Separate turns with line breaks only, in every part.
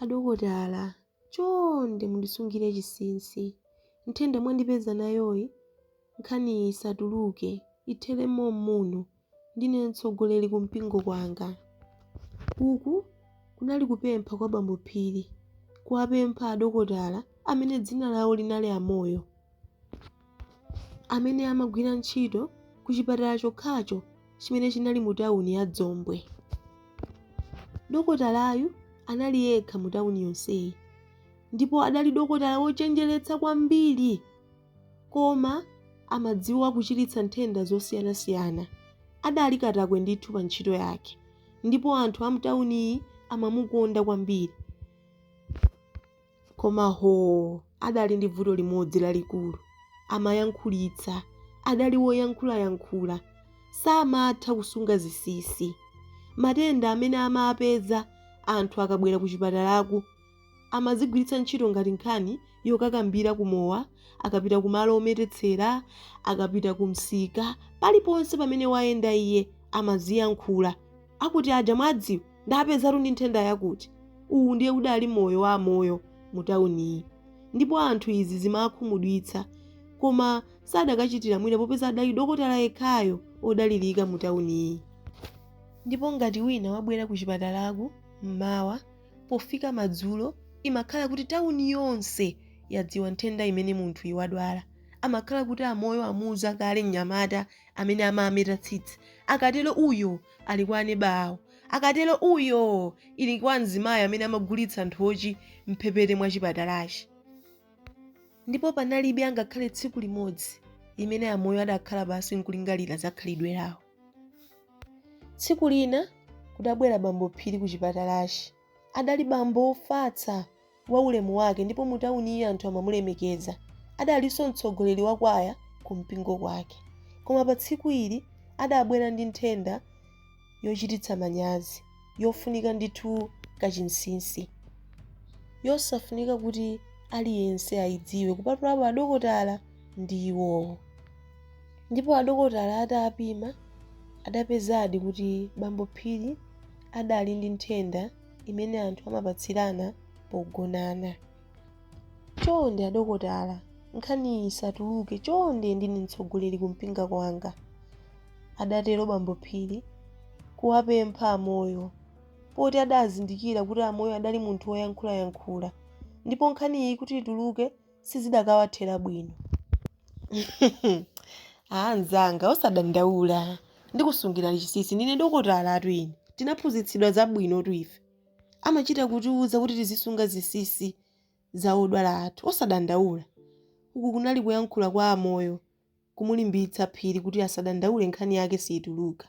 Adokotala, chonde mundisungire chinsinsi. Nthenda mwandipeza nayoyi, nkhaniyi isatuluke, ithere mom'muno. Ndine mtsogoleri kumpingo kwanga. Uku kunali kupempha kwa Bambo Phiri, kuwapempha adokotala amene dzina lawo linali a Moyo. amene amagwira ntchito ku chipatala chokhacho chimene chinali mu tawuni ya Dzombwe. Dokotalayu anali yekha mu tawuni yonseyi ndipo adali dokotala wochenjeretsa kwambiri koma amadziwa kuchiritsa nthenda zosiyanasiyana. Adali katakwe ndithu pa ntchito yake ndipo anthu a mtawuniyi amamukonda kwambiri. Koma hoo, adali ndi vuto limodzi lalikulu. Amayankhulitsa. Adali woyankhulayankhula. Samatha kusunga zinsinsi. Matenda amene amapeza anthu akabwera kuchipatalaku amazigwiritsa ntchito ngati nkhani yokakambira ku mowa, akapita kumalo ometetsera, akapita kumsika, paliponse pamene wayenda iye amaziyankhula. Akuti aja mwadziwa ndapezatu ndi nthenda yakuti. Uwu ndiye udali moyo wa amoyo mu tawuniyi ndipo anthu izi zimawakhumudwitsa koma sadakachitira mwina popeza adali dokotala yekhayo odalirika mu tawuniyi. Ndipo ngati wina wabwera kuchipatalaku m'mawa, pofika madzulo imakhala kuti tawuni yonse yadziwa nthenda imene munthuyi wadwala. Amakhala kuti amoyo amuuza kale mnyamata amene amameta tsitsi akatero uyo ali kwa aneba awo akatero uyo ali kwa mzimayi amene amagulitsa nthochi mphepete mwa chipatalachi ndipo panalibe angakhale tsiku limodzi limene amoyo adakhala pansi nkulingalira za khalidwe lawo tsiku lina kudabwera bambo phiri ku chipatalachi Adali bambo wofatsa, wa ulemu wake ndipo mu tawuniyi anthu amamulemekeza. Adalinso mtsogoleri wa kwaya ku mpingo kwake. Koma pa tsiku ili adabwera ndi nthenda yochititsa manyazi, yofunika ndithu ka chinsinsi. Yosafunika kuti aliyense ayidziwe kupatulapo adokotala ndi iwowo. Ndipo adokotala atapima adapezadi kuti bambo Phiri. adali ndi nthenda imene anthu amapatsirana pogonana. Chonde adokotala, nkhaniyi isatuluke chonde ndine mtsogoleri kumpingo kwanga, adatero bambo Phiri kuwapempha a Moyo poti adazindikira kuti a Moyo adali munthu woyankhulayankhula ndipo nkhaniyi kuti ituluke sizidakawathera bwino anzanga osadandaula ndikusungirani chisisi ndine dokotalatu ine tinaphunzitsidwa zabwinotu ife amachita kutiuza kuti tizisunga zisisi za odwala athu osadandaula uku kunali kuyankhula kwa a Moyo kumulimbitsa Phiri kuti asadandaule nkhani yake siituluka.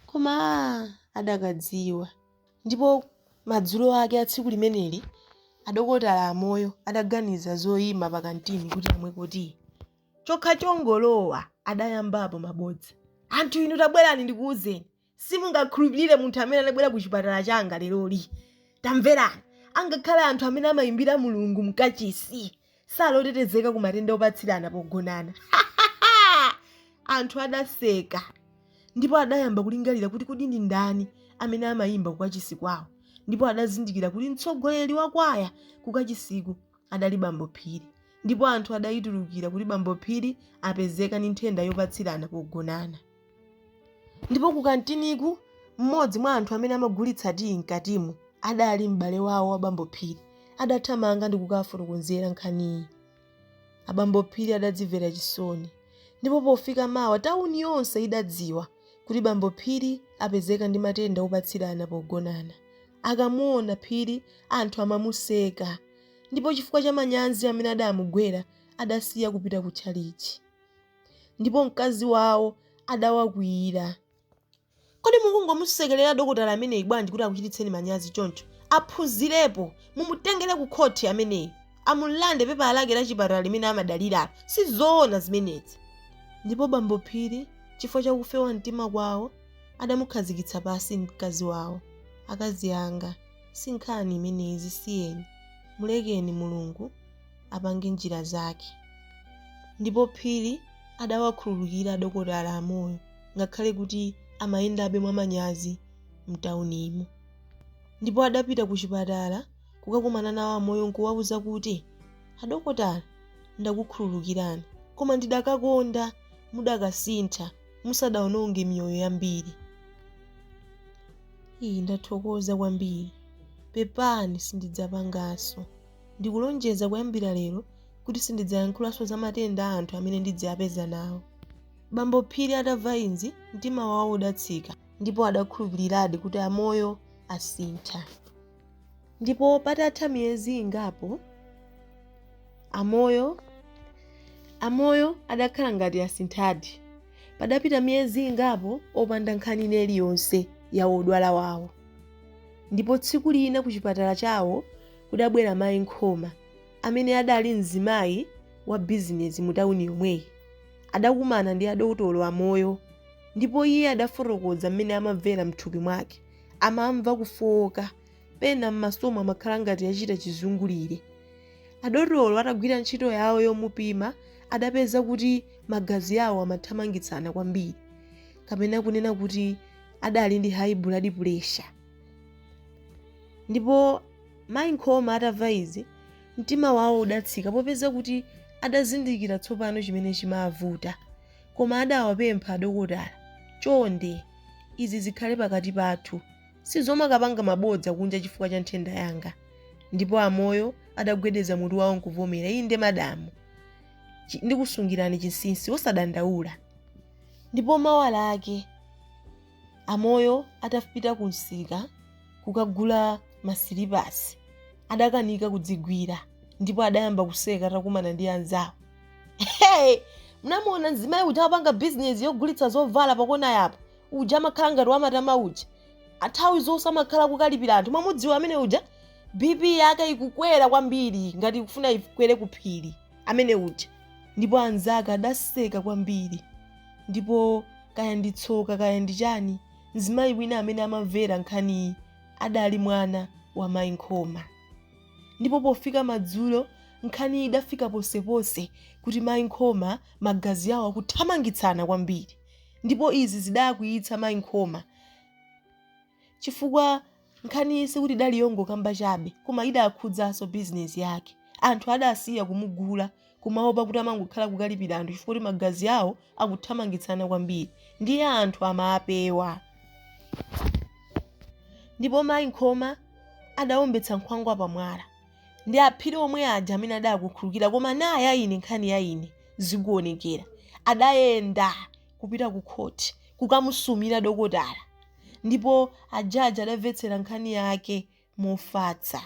Koma aah! adakadziwa. Ndipo madzulo ake a tsiku limeneli, adokotala a Moyo adaganiza zoima pakantini kuti amweko tiyi. Chokha chongolowa adayambapo mabodza. Anthu inu tabwerani ndikuuzeni! Simungakhulupilire munthu amene anabwera kuchipatala changa leroli. Tamverani! Angakhale anthu amene amaimbira Mulungu mkachisi sali otetezeka ku matenda opatsirana pogonana. Ha! ha! ha! Anthu adaseka ndipo adayamba kulingalira kuti kodi ndi ndani amene amaimba kukachisi kwawo ndipo adazindikira kuti mtsogoleri wa kwaya kukachisiku adali Bambo Phiri ndipo anthu adaitulukira kuti Bambo Phiri apezeka ndi nthenda yopatsirana pogonana. Ndipo kukantiniku, mmodzi mwa anthu amene amagulitsa tiyi mkatimo adali m'bale wawo wa bambo Phiri. Adathamanga ndi kukawafotokozera nkhaniyi. Abambo Phiri adadzimvera chisoni. Ndipo pofika mawa tauni yonse idadziwa kuti bambo Phiri apezeka ndi matenda opatsirana pogonana. Akamuona Phiri anthu amamuseka. Ndipo chifukwa cha manyanzi amene adamugwera adasiya kupita kutchalitchi. ndipo mkazi wawo adawakwiyira. Kodi mukungomusekerera dokotala ameneyi bwanji kuti akuchititseni manyazi choncho? Aphunzirepo! Mumutengere kukhoti ameneyi, amulande pepala lake la chipatala limene amadaliralo. Si zoona zimenezi. Ndipo bambo Phiri, chifukwa cha kufewa mtima kwawo, adamukhazikitsa pansi mkazi wawo. Akazi anga, si nkhani imeneyi, zisiyeni. Mulekeni, Mulungu apange njira zake. Ndipo Phiri adawakhululukira adokotala a Moyo ngakhale kuti amayendabe mwamanyazi m'taunimo. Ndipo adapita kuchipatala kukakumana nawo a Moyo n'kuwauza kuti, Adokotala, ndakukhululukirani, koma ndidakakonda mudakasintha musadaononge miyoyo yambiri. Iii, ndathokoza kwambiri. Pepani, sindidzapanganso. Ndikulonjeza kuyambira lero kuti sindidzayankhulanso za matenda a anthu amene ndidziapeza nawo. Bambo Phiri atamva izi mtima wawo udatsika ndipo adakhulupiliradi kuti a Moyo asintha. Ndipo patatha miyezi ingapo a Moyo a Moyo adakhala ngati asinthadi. Padapita miyezi ingapo opanda nkhani ina iliyonse ya odwala wawo. Ndipo tsiku lina kuchipatala chawo kudabwera mayi Nkhoma amene adali mzimayi wa bizinezi mu tawuni yomweyi. Adakumana ndi adotolo a Moyo ndipo iye adafotokoza mmene amamvera mthupi mwake. Amamva kufooka, pena mmasomo amakhala ngati achita chizungulire. Adotolo atagwira ntchito yawo yomupima adapeza kuti magazi awo amathamangitsana kwambiri kapena kunena kuti adali ndi hayi buladi pulesha. ndipo mayi Nkhoma atamva izi mtima wawo udatsika popeza kuti adazindikira tsopano chimene chimavuta koma adawapempha adokotala chonde izi zikhale pakati pathu sizomakapanga mabodza kunja chifukwa cha nthenda yanga ndipo a Moyo adagwedeza mutu wawo nkuvomera inde madamu ndikusungirani chinsinsi osadandaula ndipo mawa lake A Moyo atapita kumsika kukagula masilipasi, adakanika kudzigwira ndipo adayamba kuseka atakumana ndi anzawo. Hey! Munamuona mzimayi uja amapanga bizinesi yogulitsa zovala pakona yapo? Uja amakhala ngati wamatama uja. Athawi zonse amakhala kukalipira anthu. Mwamudziwa amene uja? BP yake ikukwera kwambiri ngati ikufuna ikwere kuphiri. amene uja. Ndipo anzake adaseka kwambiri. Ndipo kaya ndi tsoka kaya ndi chani, mzimayi wina amene amamvera nkhaniyi adali mwana wa Mayi Nkhoma. Ndipo pofika madzulo, nkhaniyi idafika ponseponse kuti Mayi Nkhoma magazi awo akuthamangitsana kwambiri. Ndipo izi zidakwiyitsa Mayi Nkhoma. chifukwa nkhaniyi sikuti idali yongokamba chabe koma idakhudzanso bizinesi yake. Anthu adasiya kumugula kumaopa kuti amangokhala kukalipira anthu chifukwa kuti magazi awo akuthamangitsana kwambiri ndiye anthu amapewa. Ndipo mayi Nkhoma adaombetsa nkhwangwa pamwala. Ndi a Phiri omwe aja amene adakukhulukira koma na ya ine nkhani ya ine zikuonekera. Adayenda kupita kukhoti kukamusumira dokotala Ndipo a judge adamvetsera nkhani yake mofatsa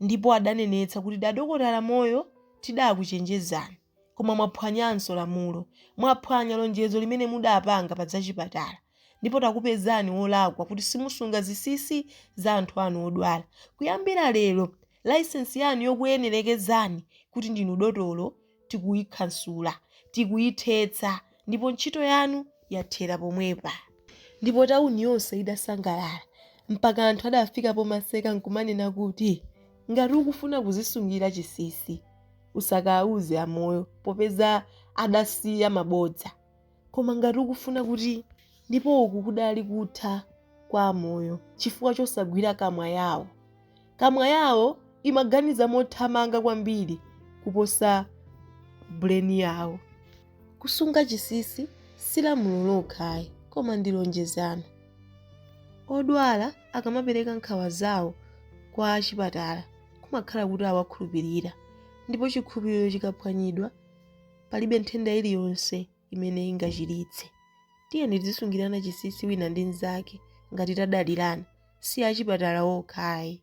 ndipo adanenetsa kuti adokotala Moyo tidakuchenjezani koma mwaphwanyanso lamulo, mwaphwanya lonjezo limene mudapanga pa zachipatala ndipo takupezani wolakwa kuti simusunga zisisi za anthu anu odwala. Kuyambira lero license yanu yokuyenerekezani kuti ndinu dotolo tikuikhansula, tikuithetsa, ndipo ntchito yanu yathera pomwepa. Ndipo tauni yonse idasangalala, mpaka anthu adafika pomaseka nkumanena kuti, Ngati ukufuna kuzisungira chisisi, usakauze a Moyo, popeza adasiya mabodza. koma ngati ukufuna kuti ndipo uku kudali kutha kwa amoyo chifukwa chosagwira kamwa yawo kamwa yawo imaganiza mothamanga kwambiri kuposa buleni yawo kusunga chisisi si lamulo lokha ayi koma ndi lonjezo odwala akamapereka nkhawa zawo kwa achipatala kumakhala kuti awakhulupirira ndipo chikhulupiriro chikaphwanyidwa palibe nthenda iliyonse imene ingachiritse tiyeni tizisungirana chisisi wina ndi mzake ngati tadalirana si achipatala okha ayi